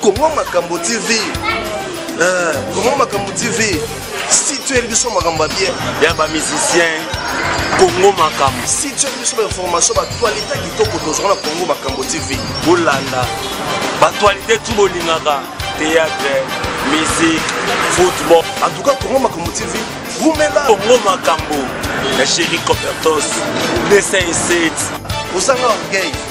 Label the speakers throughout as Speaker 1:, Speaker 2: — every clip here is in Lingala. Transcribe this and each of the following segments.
Speaker 1: Congo
Speaker 2: Makambo TV. Euh, Congo Makambo TV. Si tu es biso makambo ya bien. Ya ba musiciens.
Speaker 1: Congo Makambo. Si tu es biso ba
Speaker 2: information ba actualité kitoko tozwa na Congo Makambo TV. Bolanda.
Speaker 1: Ba actualité tout bolingaka. Théâtre, musique, football. En tout cas Congo
Speaker 2: Makambo TV. Rumela. Congo Makambo.
Speaker 1: La chérie Copertos. 207. Osanga
Speaker 2: orgueil.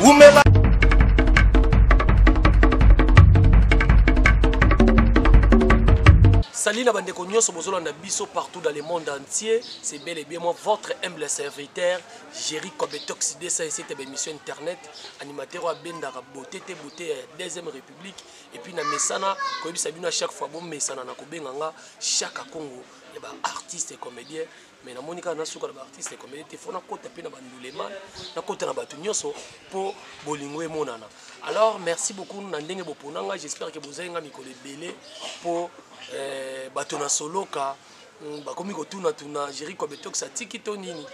Speaker 2: Wumela.
Speaker 3: Salut na bandeko nyonso bozolanda biso partout dans le monde entier. C'est bel et bien moi votre humble serviteur Jerry Kobetox Dessa ici tebe émission internet animateur wa bendaka beauté te beauté ya deuxième république et puis na mesana koyebisa bino à chaque fois bon mesana na kobenga nga chaque Congo ya ba artistes et comédiens mais namoni kaka nasuka na baartiste comédie te fo nakota mpe na bandulema nakota na bato nyonso mpo bolingo emonana alors merci beaucoup na ndenge bopona ngai j'espère ke bozali ngai mikolo ebele mpo eh, bato na soloka hmm, bakomi kotunatuna géri kobetox atiki to nini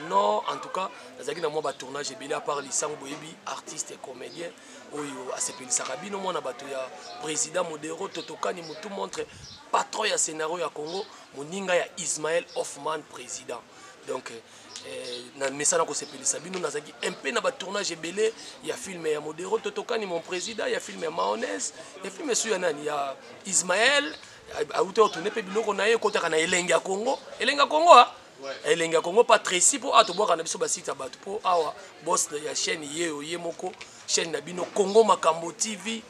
Speaker 3: non en tout cas nazalaki na mwa batournage ebele apart lisango boyebi artiste et comédien oyo asepelisaka bino mwana bato ya président modero totokani motu montre patron ya scénario ya congo moninga ya Ismaël Hoffman president donc eh, na mesana kosepelisa bino nazalaki mpe na batournage ebele ya filme ya modero totokani mon président ya filme ya maonese ya filme esu ya nani ya ismael auti otourne mpe biloko na ye ekotaka na elenge ya congo elenge ya congo a elenge ya congo pa tracy mpo awa tobwaka na biso basite ya bato mpo awa bos ya chaîne ye oye moko chaîne na bino Congo Makambo TV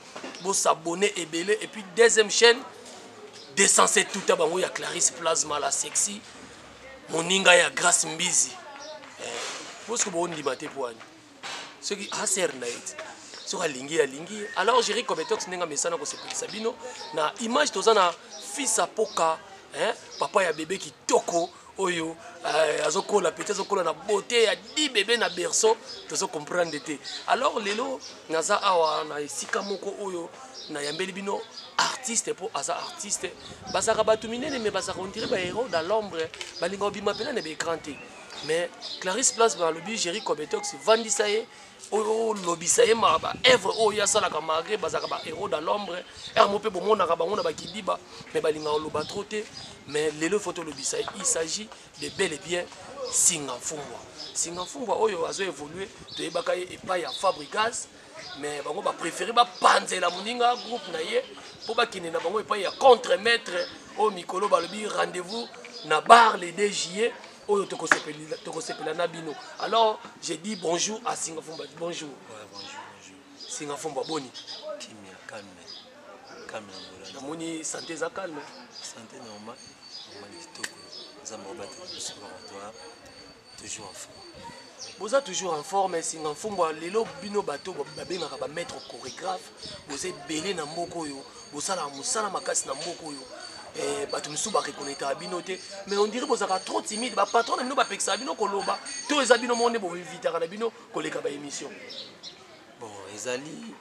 Speaker 3: bo s'abonner ebele et puis deuxième chaîne desense tout à bango ya Clarisse Plasma la sexy moninga ya Grace Mbizi eh, parce que bo ndima te poani ce qui a sert na it soki alingi alingi alors jeri cometox ndenge amesana kosepelisa bino na image toza na fils apoka eh, papa ya bebe kitoko oyo euh, azokola peti azokola na beauté ya di bebe na berceau tozo comprendre te alors lelo naza awa na esika moko oyo nayambeli bino artiste mpo aza artiste bazalaka bato minene mais bazalaka ondire bahéros dans l'ombre balinga obima mpena na baécran te mais clarisse place balobi géri cobetox vandisa ye oyo lobisa ye ma ba œuvre oyo ye asalaka malgré bazalaka ba héros dans l'ombre heure mo mpe bomonaka bango na bakidiba mais balingaka oloba trop te mais lelo faut tolobisa ye il s'agit de bel et bien singa mfumbwa singa mfumbwa oyo azo évoluer toyebaka ye epai ya fabrigas mais bango bapréféré bapanzela moninga groupe na ye mpo bakende na bango epai ya contre maître oyo mikolo balobi rendez-vous na bar le 2 juillet oyo tokosepela na bino alors je dis bonjour à singafumba bonjour ouais, bonjour bonjour
Speaker 4: singafumba
Speaker 3: boni kimia calme
Speaker 4: calme na ngola namoni
Speaker 3: santé eza calme santé normal
Speaker 4: normal kitoko nzambe obatela biso laboratoire toujours en forme boza toujours en
Speaker 3: forme singafumba lelo bino bato babengaka bamaître chorégraphe Boza ebele na mboka oyo, bosalaka mosala makasi na mboka oyo. Eh, bato mosusu barekonaitaka bino te mais ondire bozalaka trop timide bapatron na bino bapekisaka bino koloba to eza bino moko nde boinvitaka na bino koleka baémission bon
Speaker 4: ezali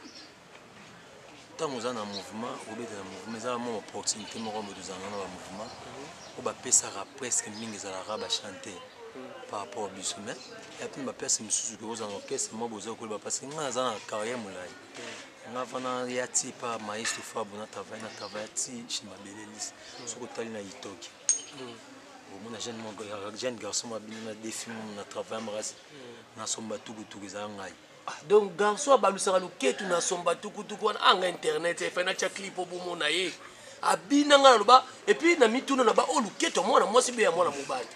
Speaker 4: ntango oza na mouvement obeta na mouvement ezalaka mwa opportunité moko moto ozalaka na bamouvement mhm. oyo bapesaka presque mingi ezalaka bachante mhm. par rapport biso mais ya mpene baplace mosusu ke ozala na orchestre mwa boza koyeba parce que ngai naza na carrière molai nga fana ya ti pa maestro fabu na travaille na travaille ti chez mabele lise soki otali na itoki omona jeune moko jeune garçon mwa bino na defi momo na travaille makasi nasomba tukutuku ezala ngai donc garçon
Speaker 3: abalusaka loketu nasomba tukutuku wana anga internet efai natya clip obomona ye abina ngai naloba epuis na mituna na ba oyo loketu ya mwana mwasi be ya mwana mobali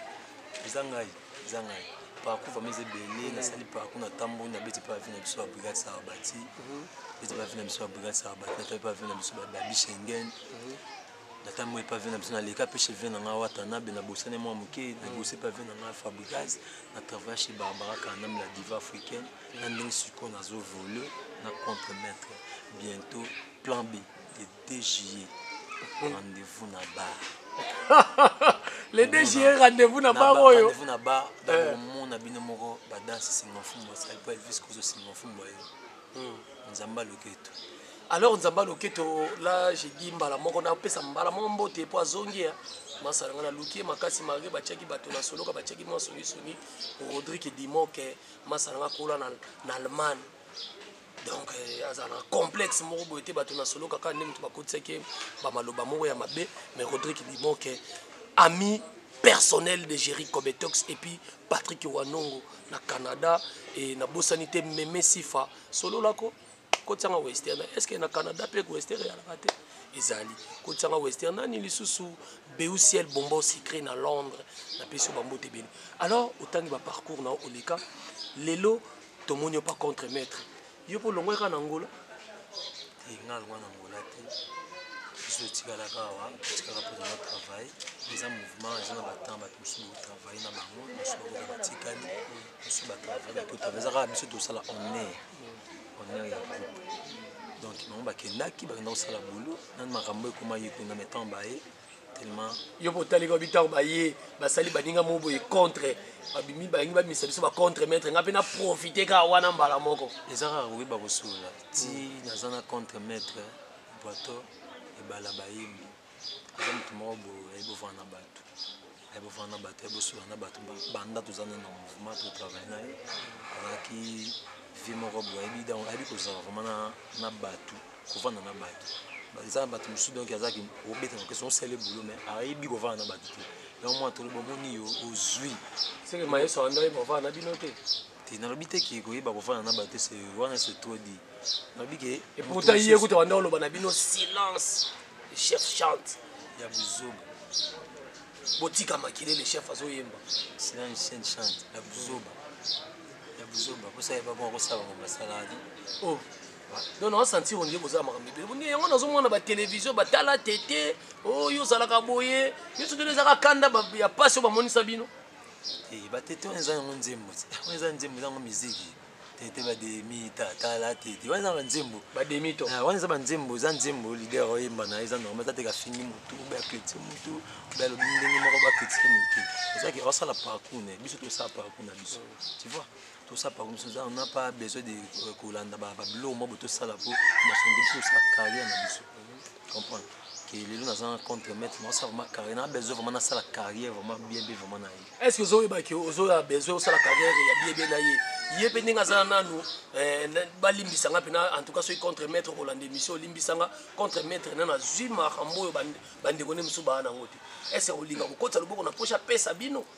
Speaker 3: eza ngai
Speaker 4: eza ngai parcours vraiment eza ebele nasali parcours natamboli nabeti mpe bavie na biso ya brigade sarabati beti mhm. bavie na biso ya brigade sarabati natali mpe bavie na biso babi schengen mhm. natamboli mpe avie na biso naleka mpe chevie na ngai watanabe nabosani mwa moke mhm. nabosi mpe avie na ngai fabrigas na travaille chez barbara kanam la diva africaine na ndenge sikoyo nazovole na contre maître bientôt plan b 2 juillet rendez-vous na bar le 2
Speaker 3: juillet rendez-vous na bar oyo rendez-vous na bar eh.
Speaker 4: omona bino moko ba danse singa mfumu asali po elvis kozo singa mfumu ayo hmm. nzambe aloketo alors nzambe
Speaker 3: aloketo la je dis mbala moko napesa mbala moko mbote po azongi ya masala nga naluki ye makasi malgre batiaki bato na soloka batiaki mwa songisongi rodrik dimoke masala nga kola na allemagne donc euh, aza na complexe moko boye te bato na solo kaka nde moto bakotisaki ye bamaloba moko ya mabe mais rodrik bibon ke ami personnel de Jerry Kobetox et puis Patrick Wanongo na Canada et na Bossanité Meme Sifa solo lako kotianga western est-ce que na Canada pe western ya la tête ezali kotianga western nani lisusu beusiel bombo secret na londres napesi yo bambote ebele alors otangi baparcours na yo oleka lelo Tomoni yo pa contre maitre. Yo po longwa kaka na Angola? Te
Speaker 4: nga longwa na Angola te. Biso etikala kawa, etikala po na travail. Eza mouvement, eza na batemp bato mosusu bo travail na bango, mosusu bakoka batikali, mosusu ba travail na kota. Eza kaka biso tosala honneur, honneur ya groupe. Donc bango bakendaki, bakenda kosala boulot, nanu makambo ekoma ye kuna, mais temps baye tellement yo po tali ko
Speaker 3: bitako ba ye basali baninga mo boye contre babimi balingi babimisa biso ba contre maître nga pe na profiter ka wana mbala moko eza kaka koyeba
Speaker 4: kosolola ti mm. naza na contre maître boito ebala bayembi aza moto moko boye ayebi ovanda na bato ya bovanda na bato ya bosola na bato banda toza na mouvement to travail na ye azalaki vie moko boye ayebi donc ayebi kozala vraiment na, na bato kovanda na bato eza na bato mosusu donc azalaki obeta na question osali boulot mais ayebi kovanda na bato te yango mwana tolobi omoni yo ozwi seke mayeso
Speaker 3: andaki kovanda na bino te te nalobi te
Speaker 4: ke koyeba kofanda na bato se wana se trop dit nalobi ke eputa ye kuta
Speaker 3: banda oloba na bino silence le chef chante ya buzoba botika makele le chef azoyemba silence chante
Speaker 4: chante ya buzoba ya buzoba kosala ebako akosala bango basala te oh
Speaker 3: donc naosentir ondie boza makambo ebele boni yango nazomona batelevizio batala tete oyo oh, ozalaka boye nyonso toli ezaka kanda ya mpasi oyo bamonisa bino Eh, batete
Speaker 4: wana eza yango nzembo ti wana eza nzembo eza yango miziki tete bademi tatala tete wana eza banzembo bademito ah, wana eza banzembo eza nzembo lider oyemba na eza normal eza teke afingi motu obe akritike motu obe alobi ndenge moko bakritike motu ezaki osala parcour na biso tosala parcour na biso tu vois Tosa pa komisa za na pa besoin de euh, kolanda ba biloko mwa boto sala po masonde biso sa carrière na biso. Comprendre que lelo na za contre maître na sa vraiment carrière na besoin vraiment na sala carrière vraiment bien bien vraiment na ye. Est-ce que zo yeba que
Speaker 3: ozo ya besoin o sala carrière ya bien bien na ye? Ye pe ndenge azala nanu eh, ba limbisa nga pena en tout cas soki contre maître ko landa émission limbisa nga contre maître na na zui makambo oyo ba ndeko ne musu ba na ngote. Est-ce que olinga ko kotisa loboko na poche apesa bino?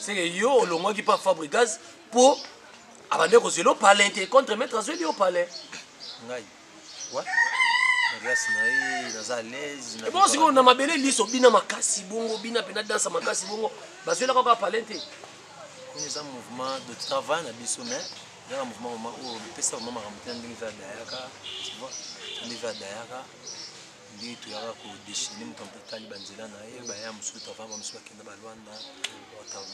Speaker 4: seke yo
Speaker 3: olongwaki pa fabrigas mpo abandaki kozwela yo palin te contre maître azweli yo palin
Speaker 4: ngai ebongo sikoyo na mabele
Speaker 3: liso bina makasi bongo bina mpe na dansa makasi bongo bazwelaka kaka palin te oyo eza
Speaker 4: mouvement de travail na biso mais ezaka mouvement mama oyo epesaka mama makambo te na ndenge mpe adayaka tu vois ndenge mpe adayaka nde toyaka ko dechine moto mpe tali banzela na ye baya mosusu travail ba mosusu bakenda balwanda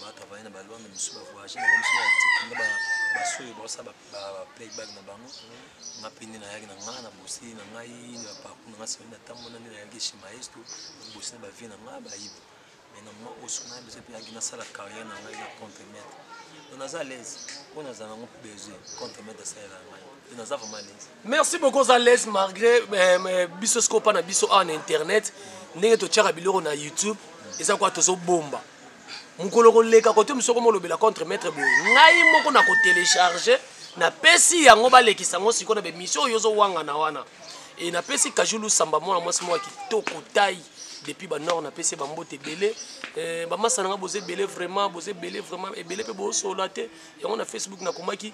Speaker 4: batravaille na balwanda mosusu bavoyage na bamosusu bakenda basoyo baosala baplayback na bango nga mpe nde nayaki na nga na bosi na ngai na parcour na nga soni natambolaki nde nayaki chez maestro bosi na bavie na nga bayiba mais na moment oyo soki naya besoin mpe yaki nasala carrière na ngai na contre maître donc naza à l'aise oyo naza nango besoin contre maître asalela na ngai donc naza vraiment à l'aise merci beaucoup oza l'aise
Speaker 3: malgré euh, biso soki opa na biso awa na internet ndenge totyaka biloko na youtube eza kwa tozobomba mokolo koleka kote mosu okoma olobela contre maître boye ngai moko na kotelecharge napesi yango balekisa yango sikoyo na bemission oyo ozowangana wana e napesi kajulu samba mwana mwasi moko ya kitoko tai depuis ba nord na pese ba mbote ebele eh, ba masa nanga boze ebele vraiment boze ebele vraiment ebele pe bosola te yango na facebook na komaki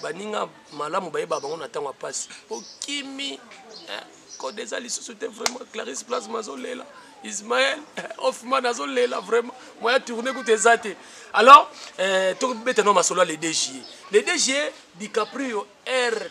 Speaker 3: baninga malamu bayeba bango na ntango ya mpasi okimi eh, code eza lisusu te vraiment clarisse plasma azolela ismael eh, hoffman azolela vraiment moya tourne kutu eza te alors eh, tokobeta no masolo ya le 2 juillet le 2 juillet dicaprio r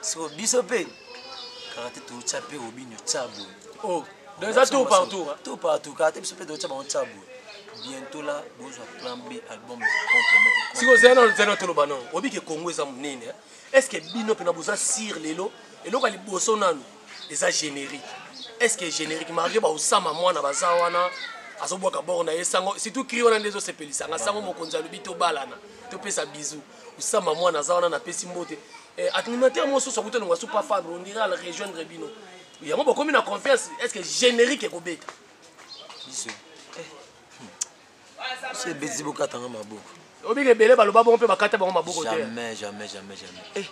Speaker 4: siko biso mpe kaka te totya mpe obinyo tya boye oh, donc eza
Speaker 3: tour par tour tour par tour kaka te biso mpe totya bango
Speaker 4: tya boye bientôt là bozwa plan b album siko zela
Speaker 3: nano zela toloba nano oyebi ke congo eza monene est ce que bino mpena boza sire lelo eloko ya liboso nano eza générique est ce que générique marie baosama mwana baza wana azobwaka bor na ye sango surtout cri wana nde ezosepelisanga sango mokonzi alobi tobalana topesa bizu osamba mwana aza wana napesi mbote eh, animateur mo soso akuta nongo asupa fabre on dirait al rejoindre bino yango bokomi na confiance est ce que générique ekobeta biso
Speaker 4: eh. biso ebeti bokatanga maboko obika ebele baloba
Speaker 3: bongo mpe bakata bango maboko te jamais jamais jamais jamais eh.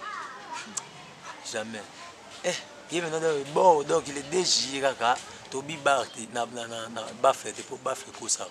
Speaker 4: jamais eh. ye mena bon donc il est dejie kaka tobi bar te na bafe te mpo bafe ekosaka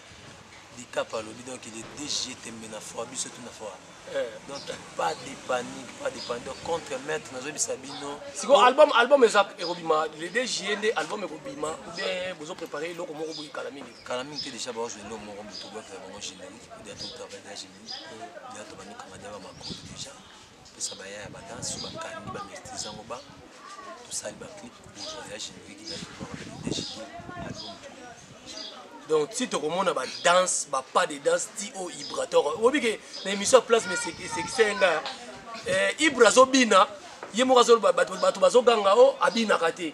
Speaker 4: Dicap alobi donc il est DG tembe na foi biso tout na foi eh. donc pas de panique pas de panique donc contre maître nazobisa bino siko oh. album album
Speaker 3: eza ekobima le DG nde album ekobima ou bien bozo préparer eloko moko boyi kala mingi kala mingi te déjà
Speaker 4: baozo elo moko moto bwaka bango générique ya tout travail ya générique ya to banika madiaba makolo déjà Pesa ba yaya ba danse ba kandy ba mesty zango ba to sali ba clip bo voyage na leki na bino ba bete chez
Speaker 3: donc ti tokomona ba danse ba pas de danse ti o ibrator obi ke na émission place mais c'est c'est senga eh ibra zo bina ye moko azoloba bato bazoganga o oh, abinaka te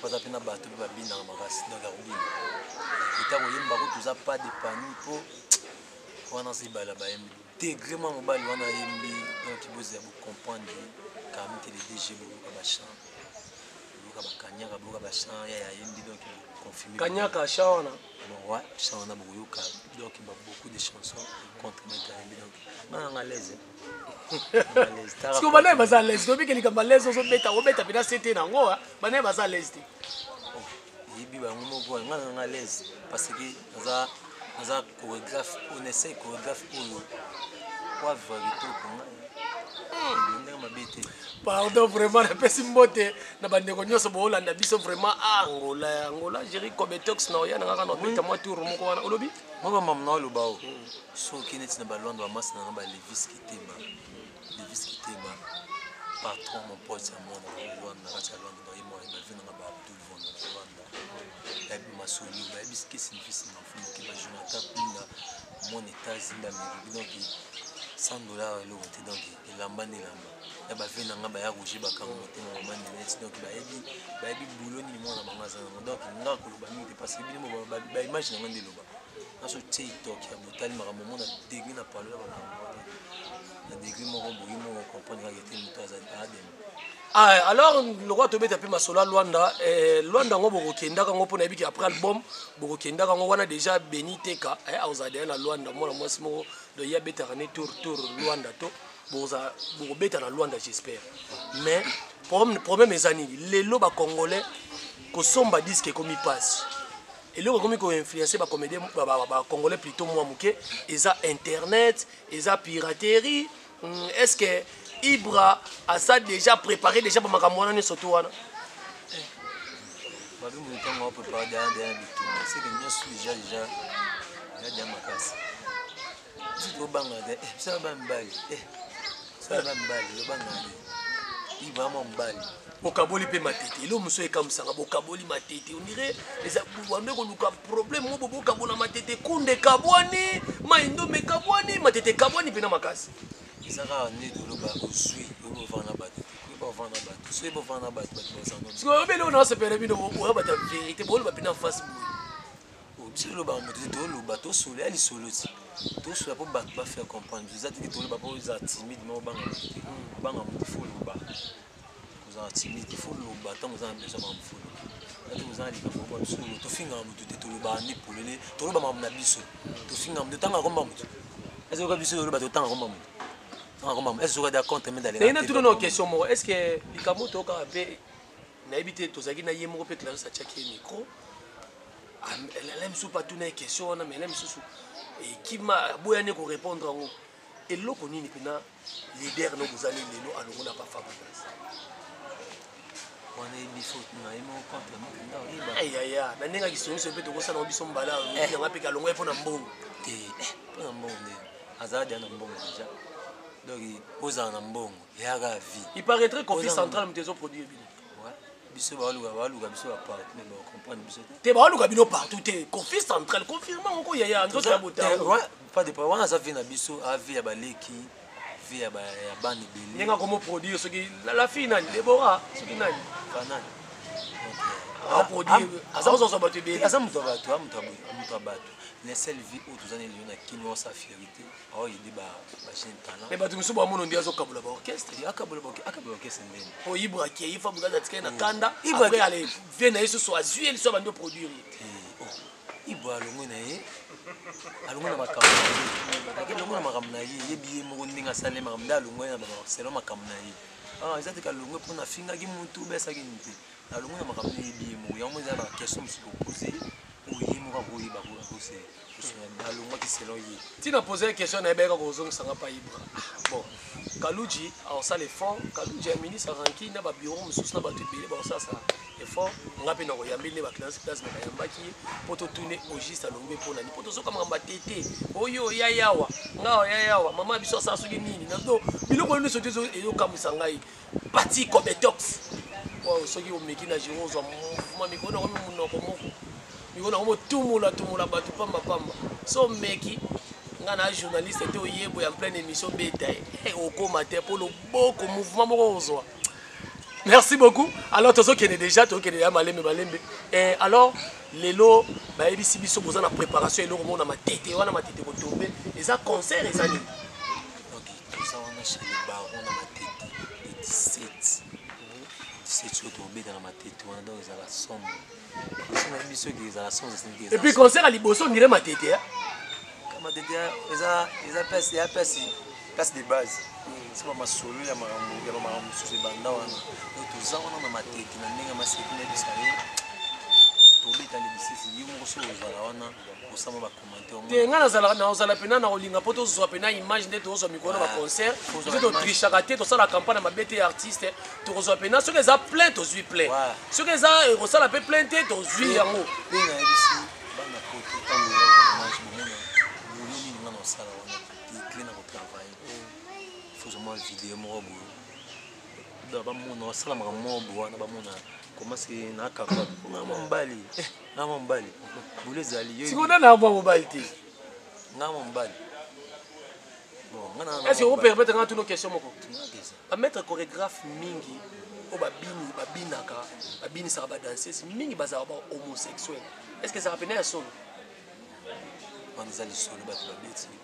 Speaker 4: Toza pe na batu pe babinaka makasi donc ya kobina kote ya koyemba ko toza pas de pami po wana aza ibale ya bayembi degre mwa mobali wana ayembi donc bozela bo comprendre parmi te le DG boyoka ba chant boyoka ba kanyaka boyoka ba chant ya yayembi donc confirmer kanyaka chant wana
Speaker 3: ouais
Speaker 4: chant wana bokoyoka donc beaucoup de chansons contre meta ayembi donc nga nanga leze
Speaker 3: siko banaye baza alaise toyebi ke likambo alaise ozobeta obeta mpena sete na yango banaye baza alaise te
Speaker 4: yebi bango moko nga nanga alaise parce que naza naza chorégraphe on essaye chorégraphe oyo wavra kitoko ndenge mabe
Speaker 3: te pardon vraiment napesi mbote na bandeko nyonso boolanda biso vraiment ah, angola ya angola jeri cometox na oya na ngaka na obeta mwa tour moko wana olobi mwa bamamna aloba
Speaker 4: o Soki oke neti na ba Luanda ba masta na nga ba Levis Kiteba, Levis Kiteba, patron mon pote ya mwana na Luanda na kati ya Luanda ba yemo ba vie na nga ba Abdul Von na Luanda. Ba yebi masoli ba yebi ske sinifisi na mfumo ke ba Jonathan Pinda mon etats inda meribi donc 100 dollars eloko te donc elamba nde elamba. Ya ba vie na nga ba ya Roger Bakango motema mama Ninette donc ba yebi ba yebi boulot nini mwana bango aza na ngo donc nga koloba mingi te parce que bino ba image na nga nde eloba. Naso tse itoki ya botali makambo mona degre na palo ya makambo wana na degre moko boye moko comprendre kaka ete moto azali aadema ah,
Speaker 3: alors lokola tobeta mpe masolo ya lwanda eh, lwanda yango bokokendaka yango mpo nayebi ke après album bokokendaka yango wana déjà beni teka eh, akozala deya na lwanda mwana mwasi moko donc ye abetaka ne tour tour lwanda to bokobeta na lwanda j'espère mais problème eza nini lelo bacongolais kosomba diske ekomi mpasi eloko ekomi ko influencer ba comédien ba congolais plutôt moi muke eza internet eza piraterie hmm, est ce que ibra asa déjà préparé déjà ba makambo wana nyonso to wana eh.
Speaker 4: babi moto ntango wa préparé deya deya bitumba seke nyonso déjà déjà ya dia makasi Zito obanga te, eh, sala ba mbali, eh, sala ba mbali, obanga te. Yi vraiment mbali. Okaboli pe
Speaker 3: matete. Elo muso ekamusanga bokaboli matete. On dirait les abouande ko luka problème mo bokabola matete kunde kabwani, maindo me kabwani, matete kabwani pe na makasi. Ezaka nde
Speaker 4: toloba ozui, obo vana bato. Obo vana bato. Soki bo vana bato, bato bazango. Sikoyo obele ona sepele
Speaker 3: bino oya bato ya verite, boloba pe na face boye. Obsili loba
Speaker 4: moto te toloba tosolo ya lisolo ti tosolo po bato ba faire comprendre biso eza te ke toloba po eza timide ma obanga moto te obanga moto fo loba kozala timide fo loba ntango oza na besoin makambo fo loba ati kozala likambo moko biso tofingaka moto te tolobaka nde polele toloba makambo na biso tofingaka moto tanga komba moto ezoka biso toloba totanga komba moto tanga komba moto ezoka da contre medale na tuno no question moko
Speaker 3: est ce que likambo tokaka pe Nayebi te tozalaki na ye moko mpe Clarisse atiaki ye micro. Alain Msupa mpe atuna ye question wana, mais Alain Msusu ekima aboyani korepondre yango. Eloko nini mpena leader no bozali lelo alongola pa Fabregas?
Speaker 4: wana eyebi faute na ye moko contre mokanda oyeba yaya na ndenge
Speaker 3: akisongiso mpe tokosala biso mbala eh. yanga mpe kalongo ye mpo na mbongo te eh, mpo na
Speaker 4: mbongo nde azala deja na mbongo deja donc ozala na mbongo yaka vie il paraîtrait qu'office central
Speaker 3: moto ezo produire bino biso
Speaker 4: baluka baluka biso bapartout mais bacomprendre biso te baluka bino partout
Speaker 3: te kofi central confirme oko yaya nzoto ya botapas de
Speaker 4: wana aza vie na biso avi ya baleki vie ya bana ebele ndenge akomo produire soki
Speaker 3: la fille nani debora soki nani banani aza kozozwa bato ebele aza moto ya bato
Speaker 4: amoto ya bato la seule vie oyo toza na elio na kino sa fierité oyo nde ba jeune talent mais bato mosusu bamono nde
Speaker 3: azokabula ba orchestre akabula akabula
Speaker 4: orchestre ndeni po ibre akei fa
Speaker 3: bukaza atikali na kanda ibre ale vie na ye susu azwi ye liso abandi oproduire ye
Speaker 4: ibre alongwe na ye alongwe na makambo na ye ake alongwe na makambo na ye yebi ye moko ndenge asali makambo nde alongwe na selo makambo na ye ah, eza teke alongwe mpo nafingaki motu obesaki nini te alongwe na makambo na yebi ye moko yango eza na question mosusu kopose oyo ye moko akoyeba akosela nalongwaki selon ye ntina poza ye question
Speaker 3: naye bayeka kozongisa nga pa ibra bon kaluji aosala effort kaluji aminisa ranki na babiro mosusu na bato ebele baosalasa effort nga mpe nakoyambeli nde baclase classe me bayambaki ye mpo totune ogiste alongwe mpo nani mpo tozoka makambo atete oyo oya yawa nga oya yawa mama biso asala soki nini nazo biloko oyo nyonso te ezokamwisa ngai Pati Cometox. Wow, soki omeki na jiro ozwa mouvement mikolo na komi munoko moko. Mikolo na komi otumula tumula bato pamba pamba. So omeki nga na journaliste te oyebo ya pleine émission beta ye. Hey, eh, okoma te po loboko mouvement moko ozwa. Merci beaucoup. Alors tozo kende déjà tozo kende ya malembe malembe. Eh alors lelo bayebisi biso boza na préparation eloko moko na matete wana matete kotombe eza concert eza nini?
Speaker 4: toza wana chez le baron na matete le 17 17 oyo tobeta na matete wana donc ezala somo soki biso eke ezala somo
Speaker 3: et puis concert ya liboso ondire matete ya
Speaker 4: matete eza eza place ya place place de base c'est pas masolo ya makambo ya makambo mosusu ebanda wana donc toza wana na matete na ndenge maseki na biso tobeta le 17 ye moko soki ozala wana osama te ngai nazalaka nakozala
Speaker 3: mpena na kolinga mpo tozwa mpena image nde tozwa mikolo na baconcert soki totrichaka te tosala campagne na mabe te artiste tokozwa mpena soki eza plein tozwi plein soki eza ekosala mpe plein te tozwi yango
Speaker 4: fozomwa video moko boye bamona basalaka makambo moko boye wana bamona komasi na kaka mobali nga mobali bulu ezali sikoyo nani akoba mobali te
Speaker 3: nga
Speaker 4: mobali est-ce que operpète nga tuno
Speaker 3: question moko bamaître chorégraphe mingi oyo babini babinaka babinisaka badanseuse mingi bazalaka ba homosexuel est ce que ezalaka mpena ya solo wana
Speaker 4: eza lisolo bato babeti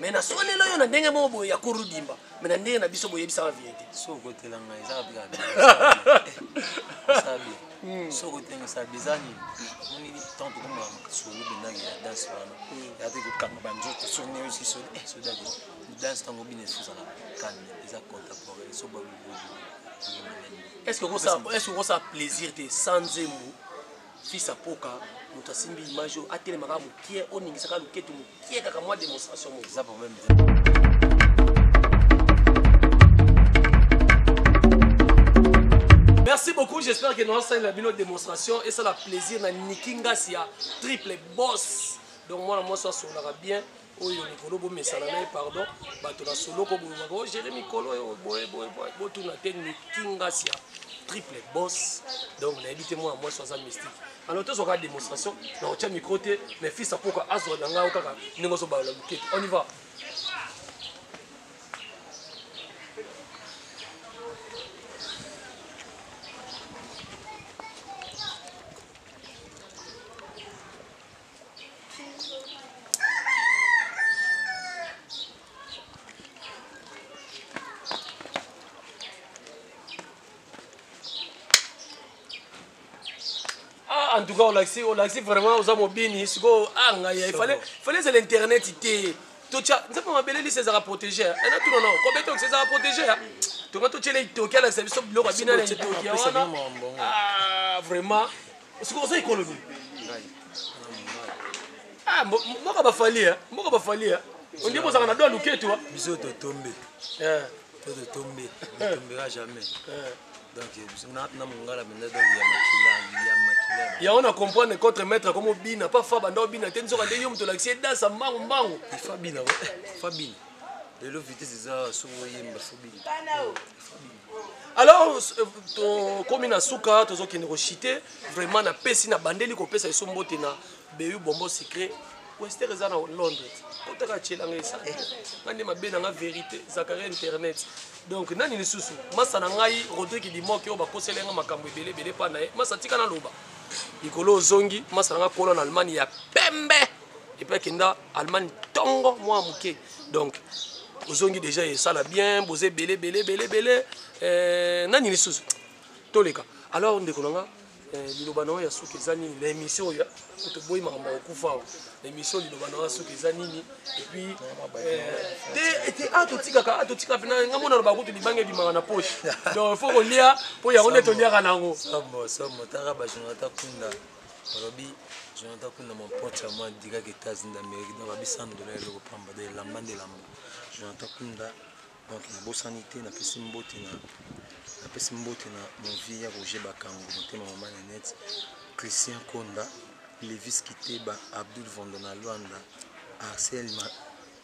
Speaker 3: me na solela yo na ndenge moko boye ya kuru dimba me na ndenge na biso boyebisaka vérité sokotela ngai
Speaker 4: ezaka bika sabi sokotela sabi eza nini moni ntango tokomaka makasolo bendaki ya danse wana ya te kokanga banzoto soki nde osi soli eh, sodaki danse ntango obina esozala kalme eza contemporain so babiboyemane est
Speaker 3: ce que okosa plaisir te sans nzembo Fils à poka mutu asimbi image oyo atelema kaka mukie oningisa kaka luketu mukie kaka mwa demonstration moko eza problème te Merci beaucoup, j'espère que nous allons la bino démonstration et ça la plaisir na Niki Ngasia, triple boss. Donc moi la moi ça sonaka bien. oyo likolo bomesana na ye pardon bato na soloko bolobaka o oh, gere mikolo oyo boyeboye botuna te nikingasia triple boss donc nayebi te mwana mwasi aza mystique alors tozwaka démonstration na otya micro te mais fils apoka azwa na ngai kaka ndenge ozobalola lukete on y va tout cas olakisi olakisi vraiment oza mobini sikoyo a ah, ngai ifale fale ezala internet te totya nzambe mabele lisi ezalaka protégé ena tuna nao kobeta okisi ezalaka protégé tonga totyela itoki alakisa biso biloko abina na itoki wana ah, vraiment sikoyo oza ekolo nini ah, mboka bafalia eh. mboka bafalia eh. ondie bozalaka na do ya luketu ah. biso totombe
Speaker 4: eh. to totombe totombeka jamais donc biso na mongala mpenza donc ya makila ya
Speaker 3: makila yango na comprendre contre maître akomi obina pa fa banda obina te nzoka nde yo moto olakisi edasa mbangu mbangu fabina
Speaker 4: fabina lelo vitese eza soki oyemba fabina alors
Speaker 3: euh, tokomi na suka tozokende koshite vraiment napesi nabandeli kopesa biso mbote na beu bombo secret wester eza na londres kotaka atyelanga esa eh. nga nde mabe na nga vérité zakaria internet donc nani lisusu masa na ngai rodrik dimoki oyo bakosela nga makambo ebele ebele mpa na ye masa tika naloba likolo ozongi masa na ngai kolo na allemagne ya pembe epe akenda allemagne ntongo mwa moke donc ozongi deja esala bien boza ebele ebele ebele ebele eh, nani lisusu toleka alors ndeko na nga eh, liloba na yo ya suka eza nini na émission oyo toboyi makambo ya kokufa awa na émission liloba na yo ya suka eza nini epuis eh, te a ah, totikaka a ah, totikaka mpena nga mona loba kutu libanga ebimaka na poche donc il faut kolia mpo yango nde toliaka na yango somo somo taka
Speaker 4: bajonata kunda Balobi Jonathan Kunda mon pote ya moi dira que États Unis d'Amérique donc abi 100 dollars eloko pamba donc elamba nde elamba Jonathan Kunda donc nabosani te napesi mbote na napesi mbote na mon vieux ya Roger Bakango motema mama Nanette Christian Konda Levis Kiteba Abdul Vondo na Luanda Arcel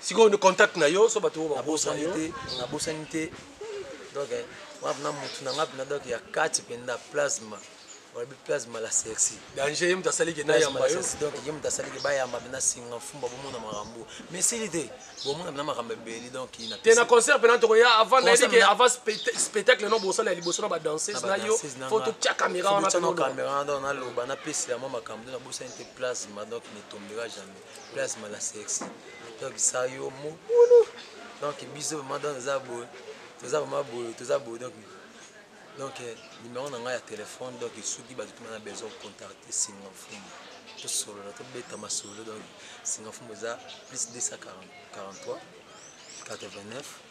Speaker 4: sikoyo nde contact
Speaker 3: na yo so bato oyo babosani te
Speaker 4: nabosani te donc eh, wana mpena motu na ngai mpena donc ya kati mpenza plasma balobi plasma la sexy danger ye moto asaliki
Speaker 3: na yamba yo donc ye moto asaliki
Speaker 4: bayamba mpena singa mfumba bomona makambo mais sili te bomona mpena makambo ebeli donc te na concert mpena tokoya
Speaker 3: avant nayebike avant spectacle no bosala ya liboso na badanseuse na yo fo totya caméra wana caméra donc naloba
Speaker 4: napesela mwa makambo nde nabosani te plasma donc ne tombera jamais plasma la sexy donc ça yo mobulu donc biso vraiment donc eza boye toza vraiment boye toza boye donc donc euh, numéro na ngai ya telefone donc soki bato tuma na besoin contacte singa mfumu tosolola tobeta masolo donc singa mfumu eza plus 243 89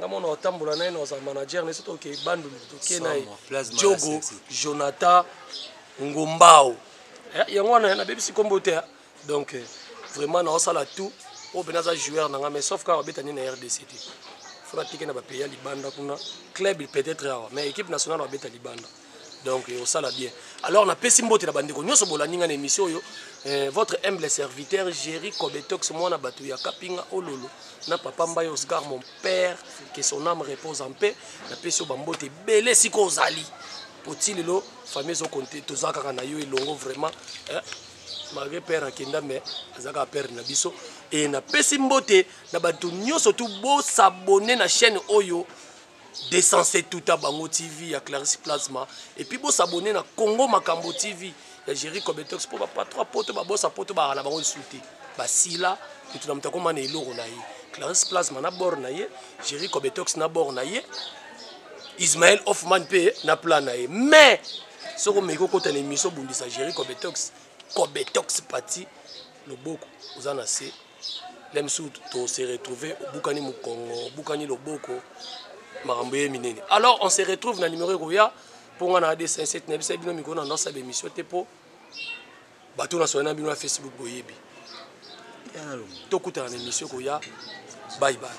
Speaker 3: namona otambola naye na oza manager na biso toke bandundu toke naye jogo jonathan ngombao eh, yango wana nabebisi nkombo te ah. donc eh, vraiment naosala tout oyo mpena aza joueur na ngai mais sauf kaka babeta nde na rdc te fona tike na bapays ya libanda kuna club peut-être awa mais équipe nationale babeta libanda donc osala bien alors napesi mbote na bandeko nyonso bolandi ngai na émission oyo eh, votre humble serviteur géri cobetox mwana bato ya kapinga ololo na papa mbai oscar mon père que son âme repose en paix napesi yo bambote ebele sika ozali mpo ti lelo famille ezokonte toza kaka na yo elongo vraiment eh, malgré père akenda mais aza kaka père na biso e napesi mbote na bato nyonso tu bosabone na chaîne oyo 207 tuta bango tv ya clarisse plasma epuis bosabone na congo makambo tv ya géri cobetox mpo bapatro ya poto babosa poto baka na bango lisusu te basila moto na moto akoma na eloko na ye clarisse plasma na bord na ye géri cobetox na bord na ye ismael hoffman mpe na plan na ye mais soki omeki okota na émission obundisa géri cobetox cobetox pati loboko oza na se meme si to se retrouver obukani mukongo obukani loboko makambo ye minene alors on se retrouve na numéro ekoya mpo ngai na ad 57 na bisa bino mikolo na ndasa bemission te mpo bato nasola na bino na facebook boyebi tokutana na émission ekoya bye bye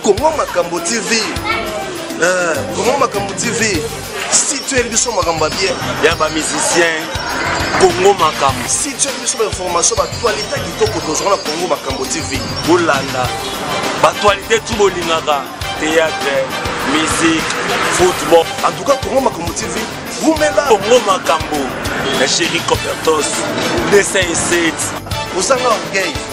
Speaker 1: Congo
Speaker 2: Makambo TV. Euh, Congo Makambo TV. Si tu es biso makambo bien. Ya ba musicien.
Speaker 1: Congo Makambo. Si tu es biso ba
Speaker 2: information ba actualité kitoko tozwa na Congo Makambo TV. Bolanda.
Speaker 1: Ba actualité tout bolingaka. Théâtre, musique, football. En tout cas Congo
Speaker 2: Makambo TV. Vumela. Congo Makambo.
Speaker 1: La chérie Copertos. 207. Osanga
Speaker 2: orgueil.